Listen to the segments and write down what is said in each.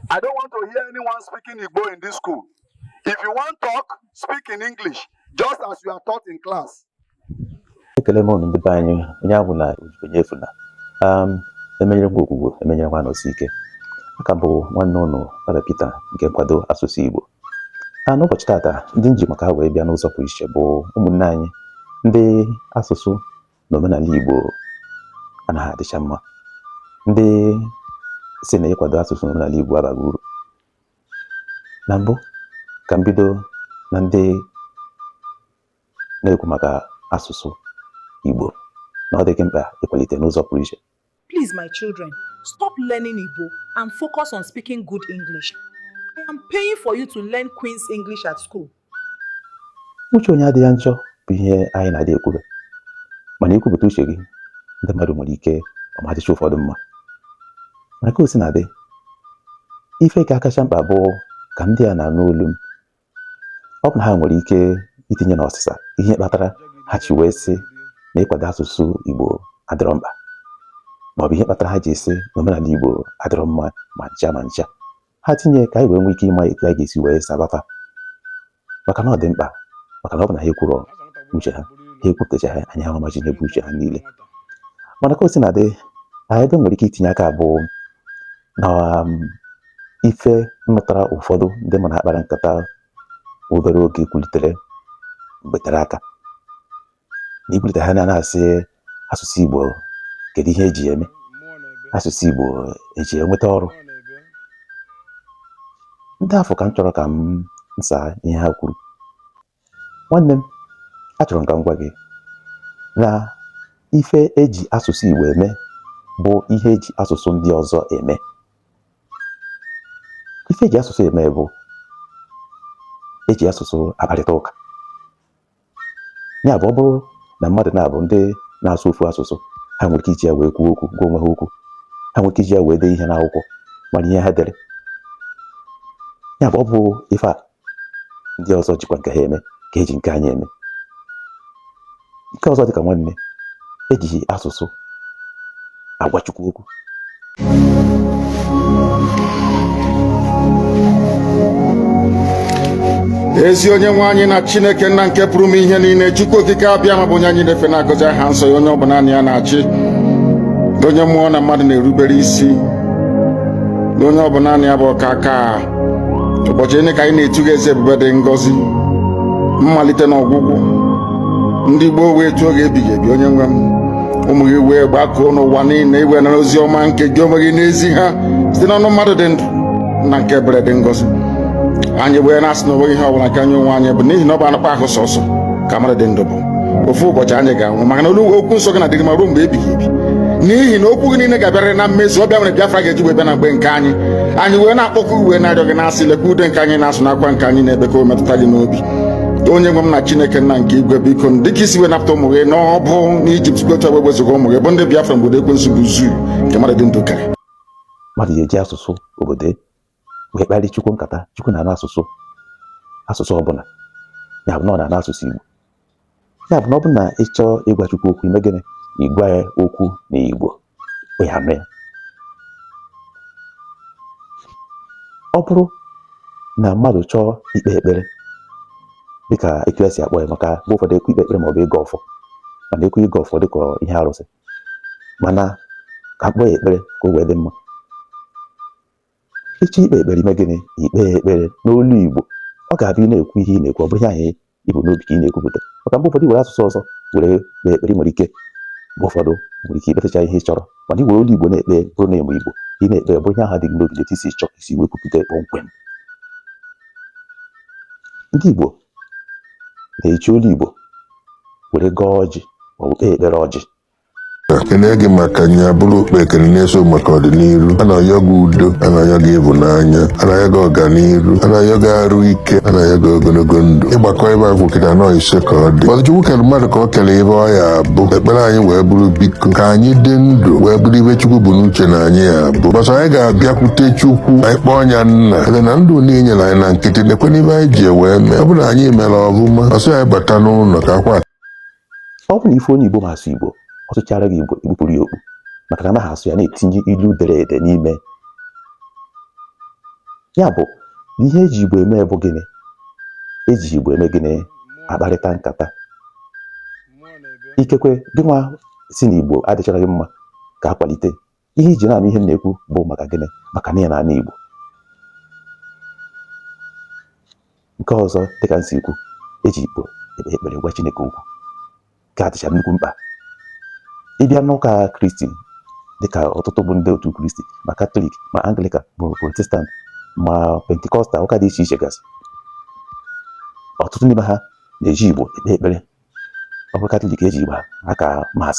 I don't want to hear anyone speaking Igbo in this school. If you want talk, speak in English, just as you are taught in class. ekele m unu ndị be anyị onye anwụna onye efuna um, emenyere nwa Ogwugwu emenyere nwa Anọsike aka bụ nwanne ụnụ Fada Peter nke nkwado asụsụ Igbo a n'ụbọchị tata ndị m ji maka ha wee bịa n'ụzọ pụrụ iche bụ ụmụnne anyị ndị asụsụ na omenala Igbo anaghị adịcha mma ndị sị na ịkwado asụsụ na omenala Igbo abaghị uru na mbụ ka m bido na ndị na-ekwu maka asụsụ Igbo na ọ dịghị mkpa ịkwalite n'ụzọ pụrụ iche Please, my children, stop learning Igbo and focus on speaking good English. I am paying for you to learn Queen's English at school. Uche onye adịghị ya njọ bụ ihe anyị na-adị ekwube. Mana i kwupụta uche gị, ndị mmadụ nwere ike ọ ma adịcha ụfọdụ mma. Mana ka o si na-adị, ife ka akacha mkpa bụ ka ndị a na-anụ olu m ọ bụ na ha nwere ike itinye n'ọsịsa ihe kpatara ha ji wee sị na ịkwado asụsụ Igbo adịrọ mkpa maọbụ ihe kpatara ha ji asị na omenala Igbo adịrọ mma ma ncha ma ncha ha tinye ka anyị wee nwee ike ịma etu anyị ga-esi wee saba fa maka na ọ dị mkpa maka na ọ bụ na ha ekwurọ uche ha ha ekwupụtacha ha anyị ahụ machi n'ebe uche ha niile mana ka o si na-adị anyị ebe nwere ike itinye aka bụ na um, ife m nụtara ụfọdụ ndị mụ na ha kpara nkata obere oge kwulitere mgbe tere aka na ikwulite ha na-asị asụsụ Igbo kedu ihe eji eme asụsụ Igbo eji enweta ọrụ ndị afụ ka m chọrọ ka m saa ihe ha kwuru nwanne m achọrọ m ka m gwa gị na ife eji asụsụ Igbo eme bụ ihe eji asụsụ ndị ọzọ eme ife eji asụsụ eme bụ eji asụsụ akparịta ụka ya bụ ọ bụrụ na mmadụ naabọ ndị na-asụ ofu asụsụ ha nwere ike iji ya wee kwuo okwu gwa onwe ha okwu ha nwere ike iji ya wee dee ihe n'akwụkwọ mara ihe ha dere ya bụ ọ bụ ife a ndị ọzọ jikwa nke ha eme ka eji nke anyị eme nke ọzọ dịka nwanne m ejighị asụsụ agwa Chukwu okwu ezi onye nwe anyị na chineke nna nke pụrụ ime ihe niile chukwu okike abịama bụ onye anyị na-efe na-agọzi aha nsọ ya onye ọ bụ naanị ya na-achị onye mmụọ na mmadụ na-erubere isi na onye ọ bụ naanị ya bụ ọkaakaa ụbọchị niile ka anyị na-etu gị eze ebube dị ngọzi mmalite na ọgwụgwụ ndị gboo wee tuo gị ebighị ebi onye nwe m ụmụ gị wee gbakọọ n'ụwa niile iwe nara ozi ọma nke gị onwe gị na-ezi ha site n'ọnụ mmadụ dị ndụ nna nke ebere dị ngọzi anyị wee na-asị na onweghị ihe ọbụla nke anyị onwe anyị bụ n'ihi na ọ bụ anụkpa ahụ sọsọ ka mmadụ dị ndụ bụ ofu ụbọchị anyị ga-anwụ maka na olu okwu nsọ gị na-adịrị ma ruo mgbe ebighị ebi n'ihi na okwu gị niile ga-abịarịrị na mmezu ọ bụ ya mere Biafra ga-eji wee bịa na mgbe nke anyị anyị wee na-akpọku gị wee na-arịọ gị na-asị lekwa ude nke anyị na-asụ na akwa nke anyị na-ebe ka ọ metụta gị n'obi onye nwe m na chineke nna nke igwe biko m dịka i si wee napụta ụmụ gị nọbu n'ijipt otu a wee wezuga ụmụ gị bụ ndị biafra n'obodo ekwensu bụ zoo nke mmadụ dị ndụ karị mmadụ ga-eji asụsụ obodo wee kparị chukwu nkata chukwu na-asụ asụsụ ọbụla ya bụ na ọ na-asụ asụsụ igbo ya bụ na ọ bụ na ị chọọ ịgwa chukwu okwu i mee gịnị ị gwa ya okwu na igbo ya mere ọ bụrụ na mmadụ chọọ ikpe ekpere dịka etu e si akpọ ya maka mgbe ụfọdụ e kwuo ikpe ekpere maọbụ ịgọ ọfọ mana e kwuo ịgọ ọfọ dịka ihe arụsị mana ka a kpọọ ya ekpere ka o wee dị mma ị chọọ ikpe ekpere i mee gịnị i kpee ekpere n'olu Igbo ọ ga-abụ ị na-ekwu ihe ị na-ekwu ọ bụrụ ihe ahụ i bu n'obi ka ị na-ekwupụta maka mgbe ụfọdụ i were asụsụ ọzọ were kpee ekpere nwere ike mgbe ụfọdụ nwere ike ikpetacha ihe ị chọrọ mana i were olu Igbo na-ekpe bụrụ na ị ma Igbo ị na-ekpe ọ bụrụ ihe ahụ dị gị n'obi i si chọọ isi wee kwupụta kpọmkwem ndị Igbo na-eji olu Igbo were gọọ ọjị ma ọ bụ kpee ekpere ọjị ekene gị maka nya bụrụ okpe ekene na-eso maka ọdịniru a na-ayọ gị udo a na-ayọ gị ịhụnanya a na-ayọ gị ọganiru a na-ayọ gị arụ ike a na-ayọ gị ogonogo ndụ ị gbakọọ ife anyị kwu kịta nọ ise ka ọ dị mbọsị chukwu kelụ mmadụ ka o kelụ ife ọ ya-abụ ekpere anyị wee bụrụ biko ka anyị dị ndụ wee bụrụ ife chukwu bu n'uche na anyị ya-abụ mbọsị anyị ga-abịakwute chukwu anyị kpọọ nya nna ele na ndụ niile i nyelụ anyị na nkịtị nekwene ife anyị ji wee mee ọ bụrụ na anyị melụ ọfụma ọ sị anyị bata n'ụnọ ka akwa ọ bụ na ị fụ onye Igbo ma asụ Igbo ọ sụchaara gị Igbo i kpupụrụ ya okpu maka na anaghị asụ ya na-etinyeghị ilu dere ede n'ime ya bụ na ihe e ji Igbo eme bụ gịnị e ji Igbo eme gịnị akparịta nkata ikekwe gịnwa sị na Igbo adịcharaghị mma ka a kwalite ihe i ji na-anụ ihe m na-ekwu bụ maka gịnị maka na ị na-anụ Igbo nke ọzọ dịka m si kwuo e ji Igbo ekpe ekpere gwa Chineke okwu nke a dịcha nnukwu mkpa ị bịa n'ụka Kristi dịka ọtụtụ bụ ndị otu Kristi ma Katọlik ma Anglikan bụ Protestant ma Pentikọstal ụka dị iche iche gasị ọtụtụ n'ime ha na-eji Igbo ekpe ekpere ọ bụrụ Katọlik e ji Igbo aka Mass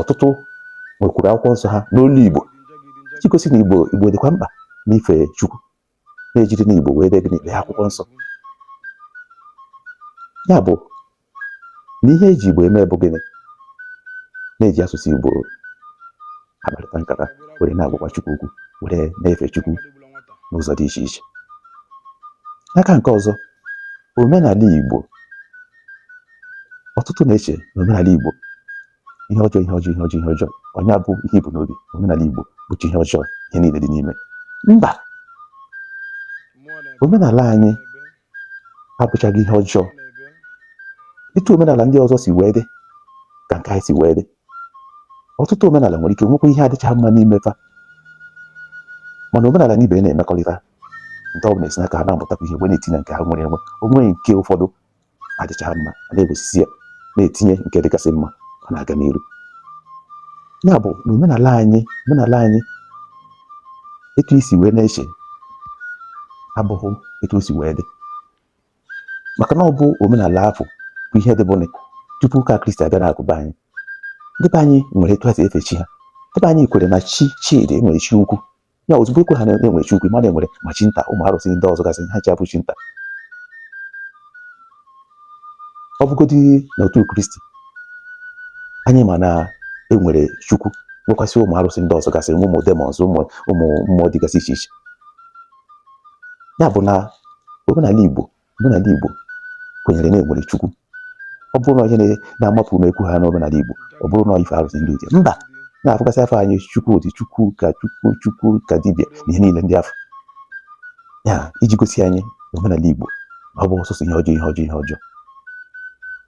ọtụtụ nwekwuru akwụkwọ nsọ ha n'olu Igbo iji gosi na Igbo Igbo dịkwa mkpa n'ife Chukwu na e jiri Igbo wee dee gịnị dee akwụkwọ nsọ ya bụ na ihe eji Igbo eme bụ gịnị na e ji asụsụ Igbo akparịta nkata were na-agwakwa Chukwu okwu were na-efe Chukwu n'ụzọ dị iche iche n'aka nke ọzọ omenala Igbo ọtụtụ na-eche na omenala Igbo ihe ọjọọ ihe ọjọọ ihe ọjọọ ihe ọjọọ onye abụ ihe ibu n'obi omenala Igbo bụcha ihe ọjọọ ihe niile dị n'ime mba omenala anyị abụchaghị ihe ọjọọ etu omenala ndị ọzọ si wee dị ka nke anyị si wee dị ọtụtụ omenala nwere ike nwekwa ihe adịcha mma n'ime fa mana omenala na ibe na-emekọrịta nke ọ bụla esi n'aka ha na-amụtakwa ihe wee na-etinye nke ha nwere enwe onwe nke ụfọdụ adịchaghị mma a na-ewesisi ya na-etinye nke dịgasị mma ọ na-aga n'iru ya bụ na omenala anyị omenala anyị etu i si wee na-eche abụghị etu o si wee dị maka na ọ bụ omenala afụ bụ ihe dịbunụ tupu ụka kristi abịa na akụkụ be anyị ndị be anyị nwere etu ha si efe chi ha ndị be anyị kwere na chi chi dị nwere chi ukwu ya ọzọ bụ ekwere na enwere chi ukwu mana enwere ma chi nta ụmụ arụsị ndị ọzọ gasị ha ji abụ chi nta ọ bụgodị n'otu kristi anyị ma na enwere chukwu nwekwasị ụmụ arụsị ndị ọzọ gasị ụmụ demons ụmụ ụmụ mmụọ dịgasị iche iche ya bụ na omenala igbo Omenala Igbo kwenyere na enwere Chukwu. Ọ bụrụ na ihe na-amapụ n'ekwu ha n'omenala Igbo, ọ bụrụ na ife arụsị ndị ochie. Mba, na-afụgasị afa anyị Chukwudi Chukwuka Chukwu Chukwukadibịa na ihe niile ndị afụ. Ya iji gosi anyị omenala Igbo ọ bụ sọsọ ihe ọjọọ ihe ọjọọ ihe ọjọọ.